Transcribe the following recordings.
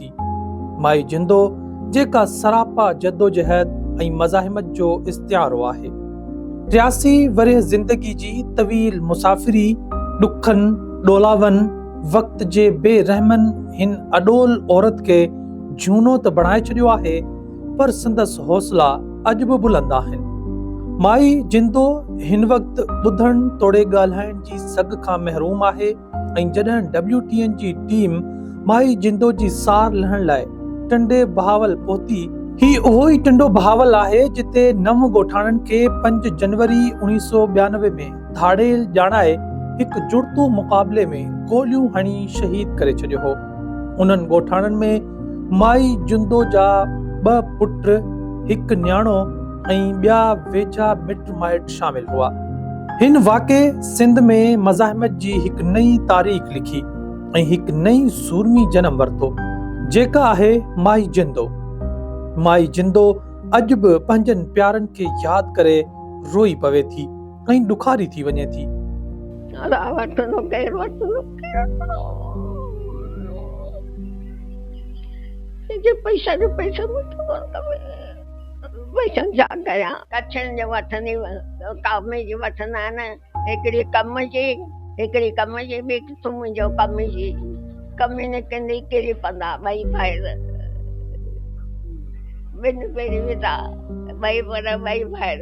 ٿي. مائي جندو جيڪا سراپا جدوجهد ۽ مزاحمت جو استعارو آهي. ٽياسي ورهيه زندگي جي طويل مسافري، ڏکن، ڏولاون، وقت جي بي رحمن هن اڏول عورت کي جهونو ته بڻائي ڇڏيو آهي پر سندس حوصلا اڄ به بلند آهن. مائي جندو هن وقت ٻڌڻ توڙي ڳالهائڻ جي سگهه کان محروم آهي. ۽ جڏهن ڊبليو ٽي اين جي ٽيم مائي جندو جي سار لهڻ لاء ٽنڊي بهاول پهتي، هي اهو ئي ٽنڊو بهاول آهي جتي نو ڳوٺاڻن کي پنج جنوري اوڻيهه سؤ ٻيانوي ۾ ڌاڙيل ڄاڻائي هڪ جڙتو مقابلي ۾ گوليون هڻي شهيد ڪري ڇڏيو هو. انهن ڳوٺاڻن ۾ مائي جندو جا ٻه پٽ، هڪ نياڻو، ۽ ٻيا ويجها مٽ مائٽ شامل هئا. هن واقعي سنڌ ۾ مزاحمت جي هڪ نئين تاريخ لکي ۽ هڪ نئين سورمي جنم ورتو، جيڪا آهي مائي جندو. مائي جندو اڄ به پنهنجن پيارن کي ياد ڪري روئي پوي ٿي ۽ ڏکاري ٿي وڃي ٿي. ويسن ڇا ڪيان ڪڇن جي وٺندي ڪامي جي وٺندا آهن هڪڙي ڪم جي هڪڙي ڪم جي ٻي تون منهنجو ڪم جي ڪمي نه ڪندي ڪري پندا ٻئي ڀائر ٻن پيري ودا ٻئي پر ٻئي ڀائر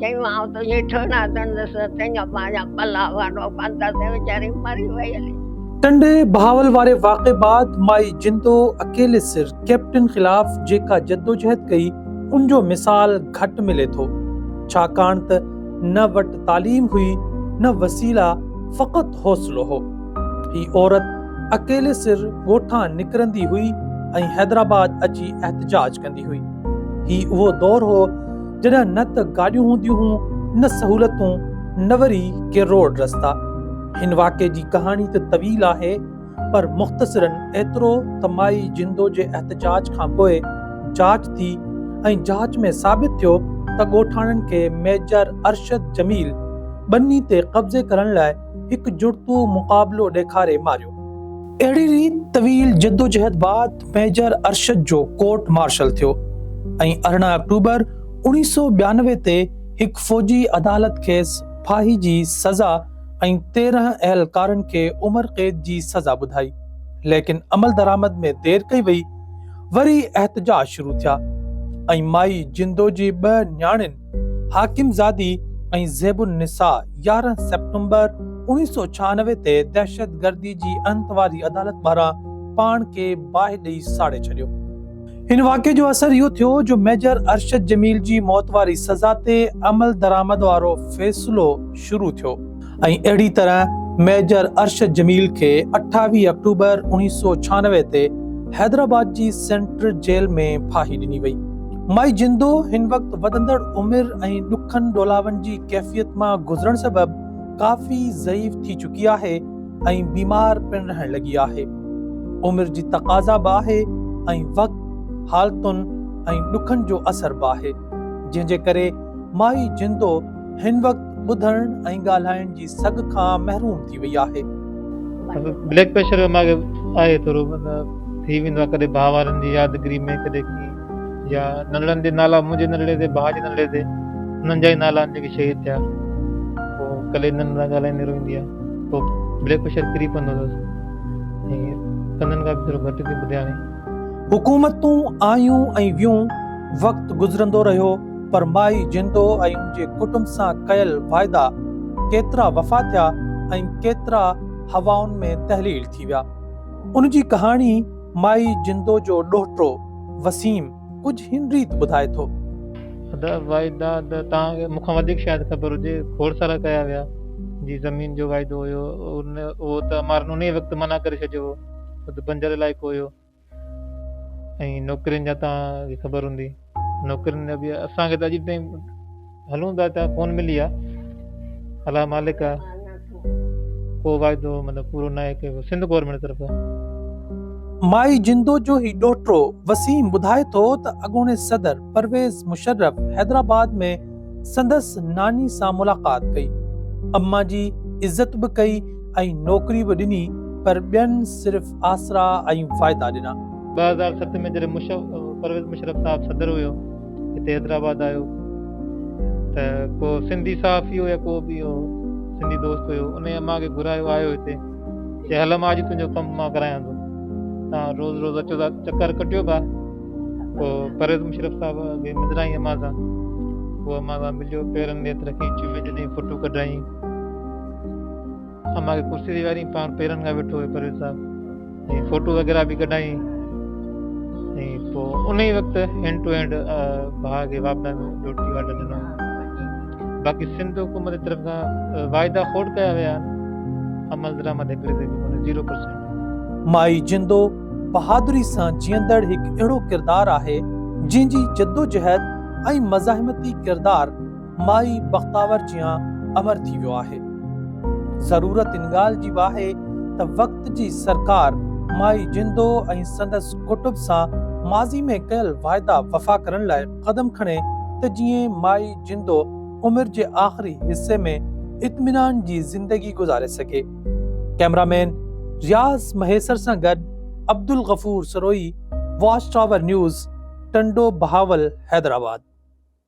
چيو آئون تنهنجي ٺهراء ڌڻندس، تنهن کان پنهنجا پلا وارو ڪندس ۽ ويچاري مري وئي هلي. ٽنڊي بهاول واري واقعي بعد مائي جندو اڪيلي سر ڪئپٽن خلاف جيڪا جدوجهد ڪئي ان جو مثال گهٽ ملي ٿو ڇاڪاڻ ته نه وٽ تعليم هئي نه وسيلا فقط حوصلو هو هي عورت اڪيلي سر ڳوٺان نڪرندي هئي ۽ حيدرآباد اچي احتجاج ڪندي هئي هي اهو دور هو جڏهن نه ته گاڏيون هونديون هون نه سهولتون نه وري ڪي روڊ رستا. هن واقعي جي ڪهاڻي ته طويل آهي پر مختصرن ايترو ته مائي جندو جي احتجاج کان پوء جاچ ٿي ۽ جاچ ۾ ثابت ٿيو ته ڳوٺاڻن کي ميجر ارشد جميل ٻني تي قبضي ڪرڻ لاء هڪجڙتو مقابلو ڏيکاري ماريو. اهڙي ريت طويل جدوجهد بعد ميجر ارشد جو ڪورٽ مارشل ٿيو ۽ ارڙهن آڪٽوبر اوڻيهه سؤ ٻيانوي تي هڪ فوجي عدالت کيس ڦاهي جي سزا ۽ تيرهن اهلڪارن کي عمر قيد جي سزا ٻڌائي. ليڪن عملدرآمد ۾ دير ڪئي وئي. وري احتجاج شروع ٿيا ۽ مائي جندو جي ٻه نياڻين، حاڪم زادي ۽ زيب النساء يارهن سيپٽمبر اوڻيهه سؤ ڇهانوي تي دهشتگردي جي انت واري عدالت ٻاهران پاڻ کي باهه ڏئي ساڙي ڇڏيو. هن واقعي جو اثر اهو ٿيو جو ميجر ارشد جميل جي موت واري سزا تي عملدرآمد وارو فيصلو شروع ٿيو. ۽ اهڙي طرح ميجر ارشد جميل کي اٺاويهه آڪٽوبر اوڻيهه سؤ ڇهانوي تي حيدرآباد جي سينٽرل جيل ۾ ڦاهي ڏني وئي. مائي جندو هن وقت وڌندڙ عمر ۽ ڏکن ڏولاون جي ڪيفيت مان گذرڻ سبب ڪافي ضعيف ٿي چڪي آهي ۽ بيمار پڻ رهڻ لڳي آهي. عمر جي تقاضا به آهي ۽ وقت، حالتن ۽ ڏکن جو اثر به آهي جنهن جي ڪري مائي جندو، هن وقت ٻڌڻ ۽ ڳالهائڻ جي سگهه کان محروم ٿي وئي آهي. بليڪ پريشر جو مرض آهي ٿورو ٿي ويندو آهي ڪڏهن ڀاء وارن جي يادگري ۾ ڪڏهن ڪيئن يا ننڙن جي نالا منهنجي ننڙي تي ڀاء جي ننڙي تي انهن جا ئي نالا آهن جيڪي شهيد ٿيا پوء ڪلي انهن سان ڳالهائيندي روئيندي آهي پوء بليڪ پريشر ڪري پوندو اٿس ۽ ڪنن کان به ٿورو گهٽ ٿي ٻڌي هاڻي حڪومتون آيون ۽ ويون وقت گذرندو رهيو پر مائي جندو ۽ ان جي ڪٽنب سان ڪيل واعدا ڪيترا وفا ٿيا ۽ ڪيترا هوائن ۾ تحليل ٿي ويا. ان جي ڪهاڻي مائي جندو جو ڏوهٽو وسيم ڪجهه هن ريت ٻڌائي ٿو. ادا واعدا ته توهان کي مون کان وڌيڪ شايد خبر هجي کوڙ سارا ڪيا ويا جي زمين جو واعدو هيو اهو ته امارن انهي وقت منع ڪري ڇڏيو هو ته بنجر علائقو هيو. ۽ نوڪرين جا توهان کي خبر هوندي نوڪرين جا به اسان کي ته اڄ تائين هلون ٿا اتان ڪون ملي آ الله مالڪ آ ڪو واعدو مطلب پورو نه آهي ڪيو سنڌ گورنمينٽ طرفان مائي جندو جو هي ڏوهٽو وسيم ٻڌائي ٿو ته اڳوڻي صدر پرويز مشرف حيدرآباد ۾ سندس ناني سان ملاقات ڪئي، اما جي عزت به ڪئي ۽ نوڪري به ڏني پر ٻين صرف آسرا ۽ فائدا ڏنا. ٻه هزار ست ۾ جڏهن پرويز مشرف صاحب صدر هيو هتي حيدرآباد آيو ته ڪو سنڌي صحافي هو يا ڪو به هو سنڌي دوست هيو انهي اما کي گهرايو آيو هتي چي هل اما اڄ تنهنجو ڪم مان ڪرايان ٿو تان روز روز اچو ٿا چڪر ڪٽيو ڀا. پوء پرويز مشرف صاحب اڳي مدرائين امان سان پوء امان سان مليو پيرن ۾ هٿ رکي چمي ڏني فوٽو ڪڍائين امان کي ڪرسي تي ويهاريائين پاڻ پيرن کان ويٺو هيو پرويز صاحب ۽ فوٽو وغيره به ڪڍائين ۽ پوء ان ئي وقت هينڊ ٽو هينڊ ڀاء کي واپڊا ۾ روٽي واٽا ڏنو باقي سنڌ حڪومت جي طرف کان واعدا کوڙ ڪيا ويا آهن عمل درآمد هڪڙي تي به ڪونهي زيرو پرسينٽ مائي جندو بهادري سان جيئندڙ هڪ اهڙو ڪردار آهي، جنهن جي جدوجهد ۽ مزاحمتي ڪردار مائي بختاور جيان امر ٿي ويو آهي. ضرورت ان ڳالهه جي به آهي ته وقت جي سرڪار مائي جندو ۽ سندس ڪٽب سان ماضي ۾ ڪيل واعدا وفا ڪرڻ لاء قدم کڻي ته جيئن مائي جندو عمر جي آخري حصي ۾ اطمينان جي زندگي گذاري سگهي. ڪئميرامين رياض مهيسر سان گڏ Abdul Ghafoor Sarohi, watch tower news, Tando Bahawal Hyderabad.